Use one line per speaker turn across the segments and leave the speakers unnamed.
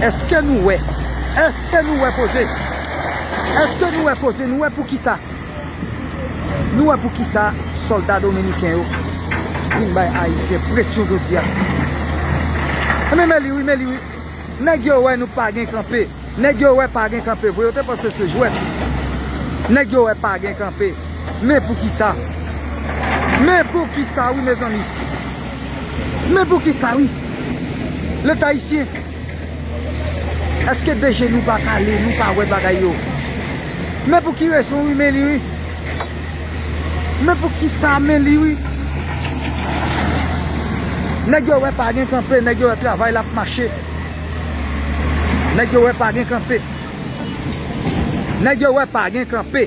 Eske nou wè? Eske nou wè koze? Eske nou wè koze? Nou wè poukisa? Nou wè poukisa solda dominiken yo vin bay ayisyen presyon jodi a? Enben men li wi, men li wi. Nèg yo wè nou pa gen kanpe. Nèg yo wè pa gen kanpe vre. Yo te panse se jwèt. Nèg yo wè pa gen kanpe. Men poukisa? Men poukisa wi mezanmi? Men poukisa wi leta ayisyen eske de je nou pa kale nou pa wè bagay yo men pouki rezon wi men li wi men poukisa men li wi nèg yo wè pa gen kanpe nèg yo wè travay la ap mache nèg yo wè pa gen kanpe nèg yo wè pa gen kanpe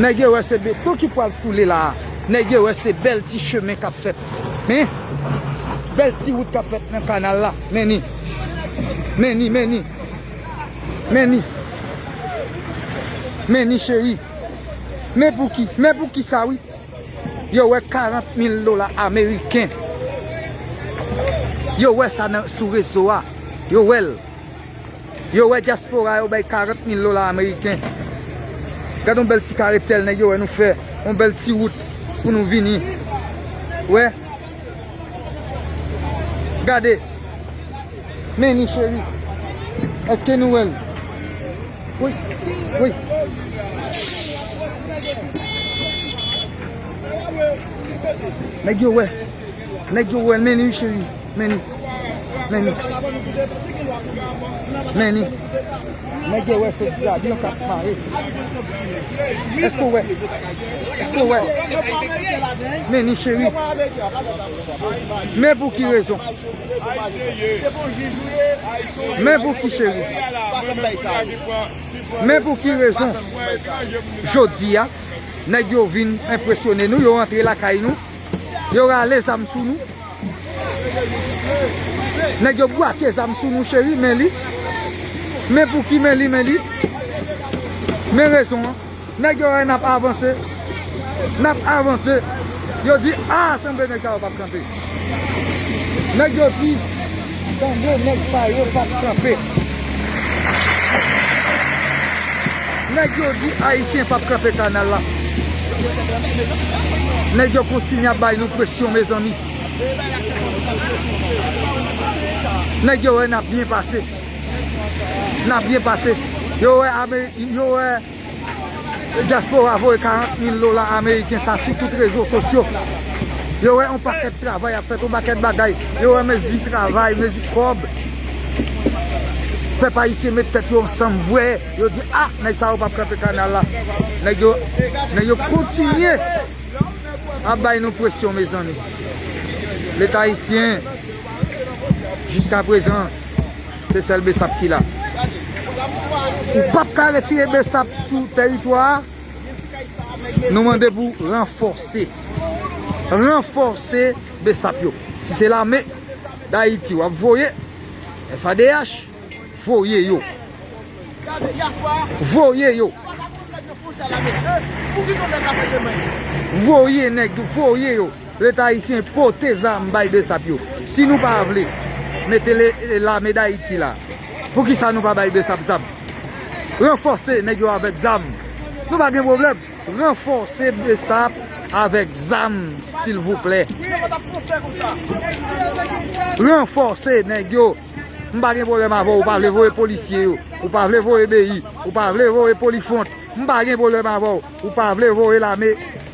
Nèg yo wè se beton ki pwal koule la a. Nèg yo wè se bèl ti chemen kap fèt. Men, bèl ti wout kap fèt nan kanal la. Men ni. Men ni, men ni. Men ni. Men ni cheri. Men pou ki, men pou ki sa wi. Yo wè 40 mil dola ameriken. Yo wè sa sou rezo a. Yo wèl. Yo wè diaspora yo bay 40 mil dola ameriken. Gad yon bèl ti kare tèl nèg yo wè nou fè. Yon bèl ti wout pou nou vini. Wè. Gade. Men ni cheri. Eske nou wèl? Woy. Woy. Nèg yo wè. Nèg yo wèl men ni cheri. Many Many Many Nèg yo wè se gabyon kap pale Èske ou wè Èske ou wè Many cheri Men pouki rezon Men pouki cheri Men pouki rezon Jodi a Nèg yo vin enpresyone nou Yo rantre lakay nou Yo rale zam sou nou. Nèg yo bwake zam sou nou cheri men li. Men pou ki men li men li. Men rezon an. Nèg yo wè n ap avanse. N ap avanse. Yo di a sanble nèg sa yo pa p kanpe. Nèg yo di. Sanble nèg sa yo pap kanpe. Nèg yo di ayisyen pap kanpe kanal la. Nèg yo kontinye ap bay nou presyon mezanmi. Nèg yo wè nap byen pase. Nap byen pase. Yo wè Dyaspora voye 40 mil dola ameriken sa sou tout rezo sosyo. Yo wè yon pakèt travay ap fèt, yon pakèt bagay. Yo wè mezi travay, mezi kòb. Pèp ayisyen met tèt yo ansanm vwe. Yo di a, nèg sa yo pap kanpe kanal la. Nèg yo, nèg yo kontinye ap bay nou presyon mezanmi. Leta ayisyen, jiska prezan. Se sèl Bsap ki la. Ou pap ka retire Bsap sou teritwa a. Nou mande pou ranfòse. Ranfòse Bsap yo. Si se lame Dayiti wap voye. FADH voye yo. Voye yo. Voye nèg yo. Voye yo. Leta ayisyen pote zam bay besap yo. Si nou pa vle mete lame dayiti la, poukisa nou pa bay besap zam? Ranfòse nèg yo avèk zam. Nou pa gen pwoblèm. Ranfòse besap avèk zam silvouplè. Ranfòse nèg yo. M pa gen pwoblèm avè w ou pa vle voye polisye yo. Ou pa vle voye BI. Ou pa vle voye polifwont. M pa gen pwoblèm avè w. Ou pa vle voye lame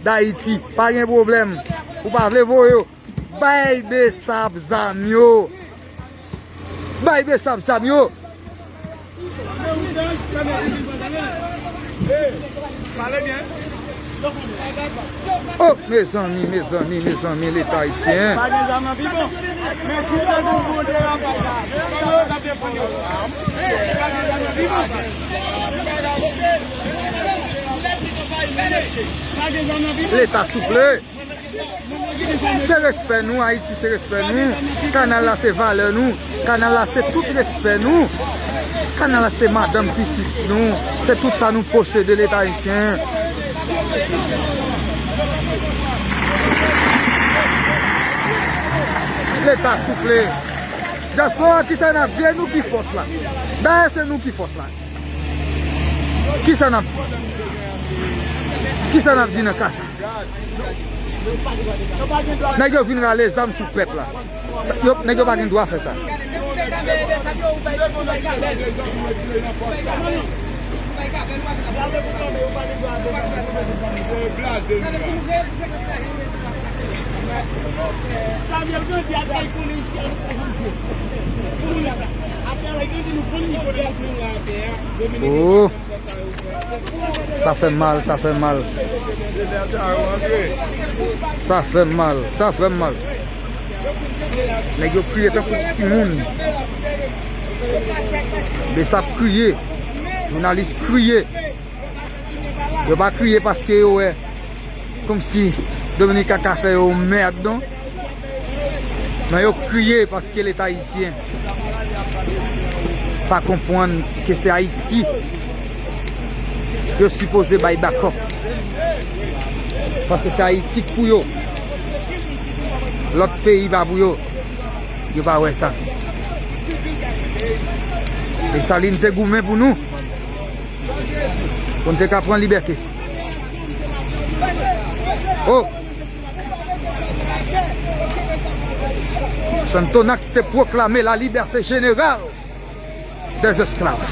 dayiti pa gen problem ou pa vle voye yo bay besap zam yo bay besap zam yo oh mezanmi mezanmi mezanmi leta ayisyen Leta souple! Se respè nou, Ayiti se respè nou, kanal la se valè nou, kanal la se tout respè nou, kanal la se madanm pitit nou, se tout sa nou posede leta ayisyen. Leta souple! Dyaspora kisa nap di e nou ki fòs la? Dayè se nou ki fòs la. Kisa nap di? Kisa nap di nan ka sa? Nèg yo vin rale zam sou pèp la. Nèg yo pa gen dwa fè sa. Ooh Sa fèm mal, sa fèm mal Sa fèm mal, sa fèm mal Nèg yo kriye tankou ti timoun Bsap kriye Jounalis kriye Yo pa kriye paske yo wè Komsi Dominika ka fè yo mèd non Nan yo kriye paske leta ayisyen pa konpwann ke se ayiti yo sipoze bay bakòp paske se ayiti k pou yo lòt peyi pa pou yo yo pa wè sa Desalin te goumen pou nou pou n te ka pran libète oh Sonthonax te pwoklame la libète jeneral dè esklav.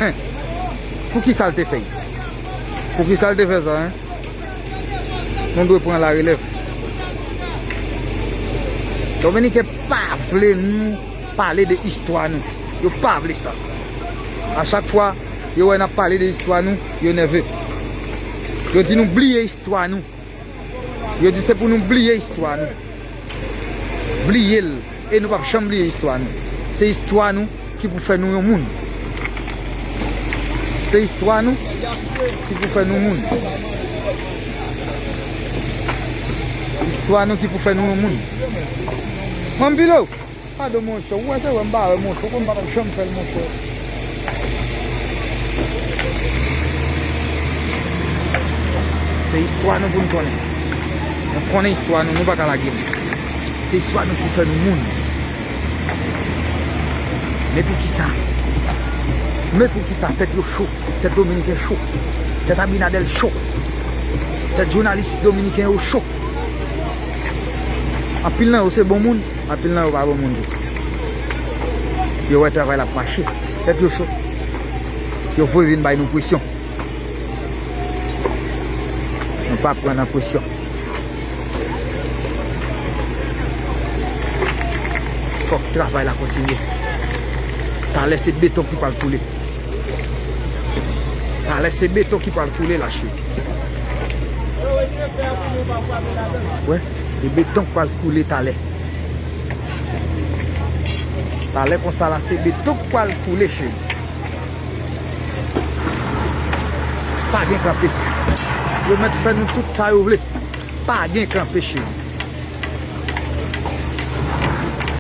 Hein! Pou ki sa l te fè y? Pou ki sa l te fè sa, hein? Nou dwe pran la relèv. Dominiken pa vle nou pale de istwa nou. Yo pa vle sa. A chak fwa. Yo wè nap pale de istwa nou, yo nève. Yo di nou bliye istwa nou. Yo di se pou nou bliye istwa nou. Bliye l e nou pap janm bliye istwa nou. Se istwa nou ki pou fè nou yon moun. Se istwa nou ki pou fè nou moun. Istwa nou ki pou fè nou yon moun. Anpil ou! Pardon monchè ou wè se wèm pa wè monchè konn patap janm fèl monchè. Se istwa nou pou nou konnen. Nou konnen istwa nou, nou pa ka lage li. Se istwa nou ki fè nou moun. Men pou ki sa? Men pou ki sa tèt yo cho? Tèt dominiken cho? Tèt abinadèl cho? Tèt jounalis dominiken yo cho? Anpil nan yo se bon moun? Anpil nan yo pa bon moun tou. Yo wè travay la ap mache. Tèt yo cho. Yo voye vin bay nou presyon. Nou pa pran nan presyon. Fòk travay la kontinye. Talè se beton ki pral koule. Talè se beton ki pral koule la cheri. Wè. E beton k pral koule talè. Talè konsa la se beton k pral koule cheri. Pa gen kanpe. Yo mèt fè nou tout sa yo vle. Pa gen kanpe cheri.